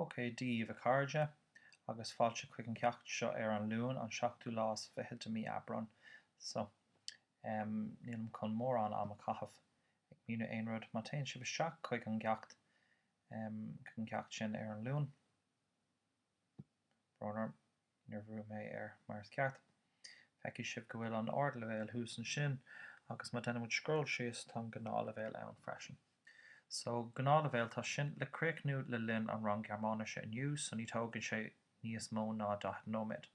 OK daoibh a chairde, agus fáilte chuig an ceacht seo ar an Luan, an seachtú lá is fiche de mí Aibreán. So, em, nílim chun mórán am a chaitheamh ag míniú aon rud. Má théann sibh isteach chuig an gceacht, em, chuig an gceacht sin ar an Luan, brón orm, Níor bhrúigh mé air mar is ceart. Feicfidh sibh go bhfuil an ardleibhéal thuas ansin agus má déanaimid scroll síos tá an gnáthleibhéal ann freisin. So gnáthleibhéal tá sin le críochnú le linn an rang Gearmáinise inniu so ní tógann sé níos mó ná 40 nóiméad.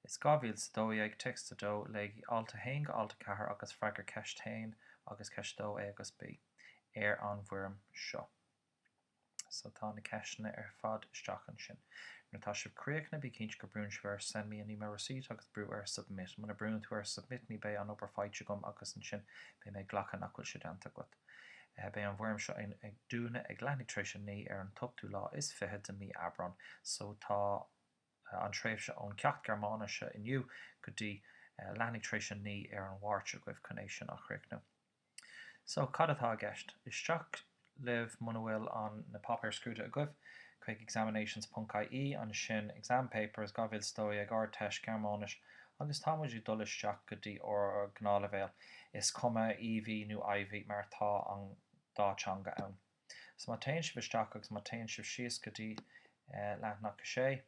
Is 2012 téacs 2 Léigí alt 1 go alt 4 agus freagair ceist 1 agus ceist 2 a agus b ar an bhfoirm seo. So tá na ceisteanna ar fad isteach ansin. Nuair atá sibh críochnaithe bí cinnte go brúnn sibh ar Send me an email receipt agus brú ar Submit. Muna brúnn tú ar Submit ní beidh an obair faighte agam agus ansin beidh mé ag glacadh nach bhfuil sé déanta agat. Beidh an bhfoirm seo ag dúnadh ag leathuair tar éis a naoi ar an t-ochtú lá is fiche de mí Aibreán. So tá an tréimhse ón ceacht Gearmáinise inniu go dtí leathuair tar éis a naoi ar an Mháirt agaibh chun é sin a chríochnú. So, cad atá i gceist? Isteach libh muna bhfuil an, na páipéir scrúdaithe agaibh, chuig examinations ponc IE, ansin exam papers, 2012 Ardteist, Gearmáinis, agus tá muid ag dul isteach go dtí ár ngnáthleibhéal, is cuma EV nó IV mar tá an dá teanga ann. So má téann sibh isteach agus má téann sibh síos go dtí leathanach 6,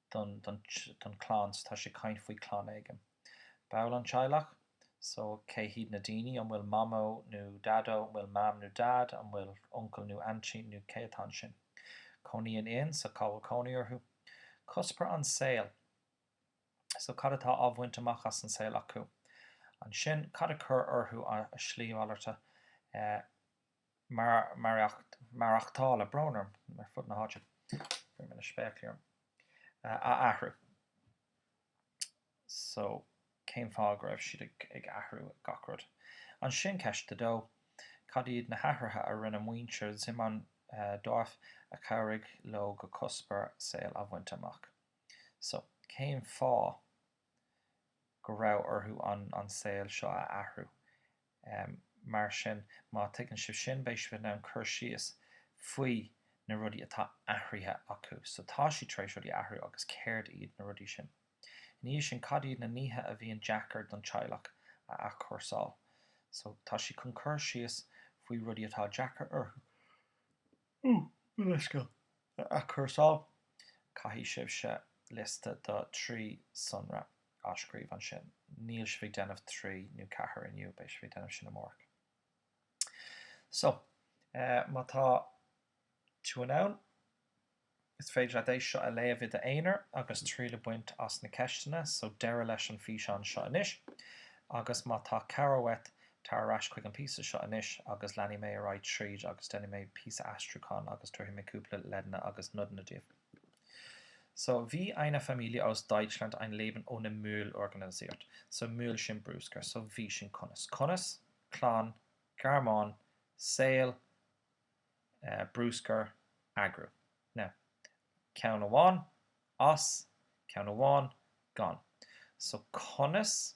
don, don, don chlann so tá sé ag caint faoi chlann éigin. Baill an teaghlach? So cé hiad na daoine? An bhfuil mamó nó daideo, an bhfuil mam nó daid, an bhfuil uncle nó auntie nó cé atá ansin? Cónaíonn in, so cá bhfuil cónaí orthu? Cuspóir an saol? So cad atá á bhaint amach as an saol acu? Ansin cad a chuir orthu a slí mhalarta? Eh. maireachtála, brón orm, ar fud na háite, bhí mé le spéaclaí orm, a athrú so cén fáth go raibh siad ag athrú gach rud. Ansin ceist a dó, cad iad na hathruithe a rinne muintir Zyman Dwarf a chabhraigh leo go cuspóir saoil a bhaint amach? So cén fáth go raibh orthu an saol seo a athrú? Um, mar sin, má tuigeann sibh sin, beidh sibh in ann cur síos faoi na rudaí atá athraithe acu. So, tá siad tar éis rudaí a athrú agus céard iad na rudaí sin? Ina dhiaidh sin, cad iad na nithe a bhíonn deacair don teaghlach a athchúrsáil? So, tá sibh chun cur síos faoi rudaí atá deacair orthu. Ooh, mo leithscéal. a athchúrsáil, caithfidh sibhse liosta do thrí sonra a scríobh ansin. Níl sibh ag déanamh trí nó ceathair inniu, beidh sibh ag déanamh sin amárach. So, má tá tú in ann, is féidir leat é seo a léamh i d'aonar agus triail a bhaint as na ceisteanna. So, deireadh leis an bhfíseán seo anois agus má tá cabhair uait, Tar ar ais chuig an píosa seo anois agus leanfaidh mé ar aghaidh tríd agus déanfaidh mé píosa aistriúcháin agus tabharfaidh mé cúpla leideanna agus nodanna daoibh. So, wie eine Familie aus Deutschland ein Leben ohne Müll organisiert. So, Müll sin brúscar. So, wie sin conas. Conas? clann, Gearmáin, saol, eh, brúscar, eagrú. Now, ceann amháin, as, ceann amháin, gan. So, conas?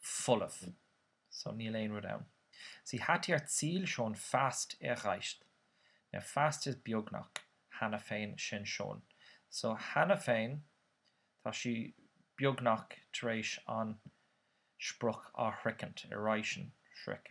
folamh so níl aon rud ann. Sie hat ihr Ziel schon fast erreicht. Now fast is beagnach cheana féin sin schon so cheana féin tá sí beagnach tar éis an sprioc a shroichint erreichen sroich.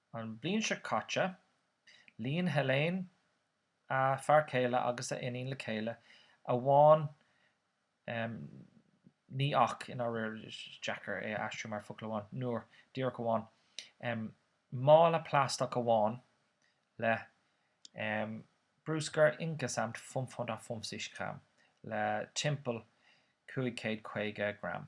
An bhliain seo caite, líon Helene a fear céile agus a iníon le chéile amháin ní ach i ndáiríre, is deacair é a aistriú mar focal amháin, nur, díreach amháin, mála plaisteach amháin le brúscar insgesamt 550 Gramm, le timpeall 550 gram.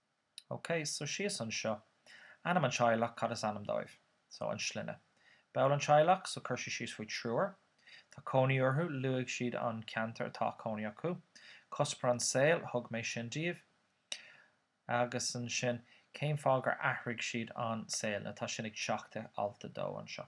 OK, so síos anseo. Ainm an teaghlach, cad is ainm dóibh? So, an sloinne. Ball an teaghlach, so chuir sí síos faoi triúr. Tá cónaí orthu, luaigh siad an ceantar atá cónaí acu. Cuspóir an saol, thug mé sin daoibh. Agus ansin, cén fáth gur athraigh siad an saol? Now tá sin ag teacht i alt a dó anseo.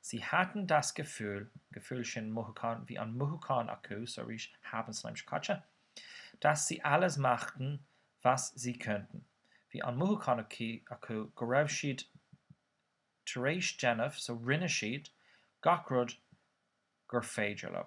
Sie hatten das Gefühl, Gefühl sin mothúchán, bhí an mothúchán acu so arís haben san aimsir chaite. Dass sie alles machten, was sie konnten. Bhí an mothúchán acu go raibh siad tar éis déanamh, so rinne siad, gach rud gur féidir leo.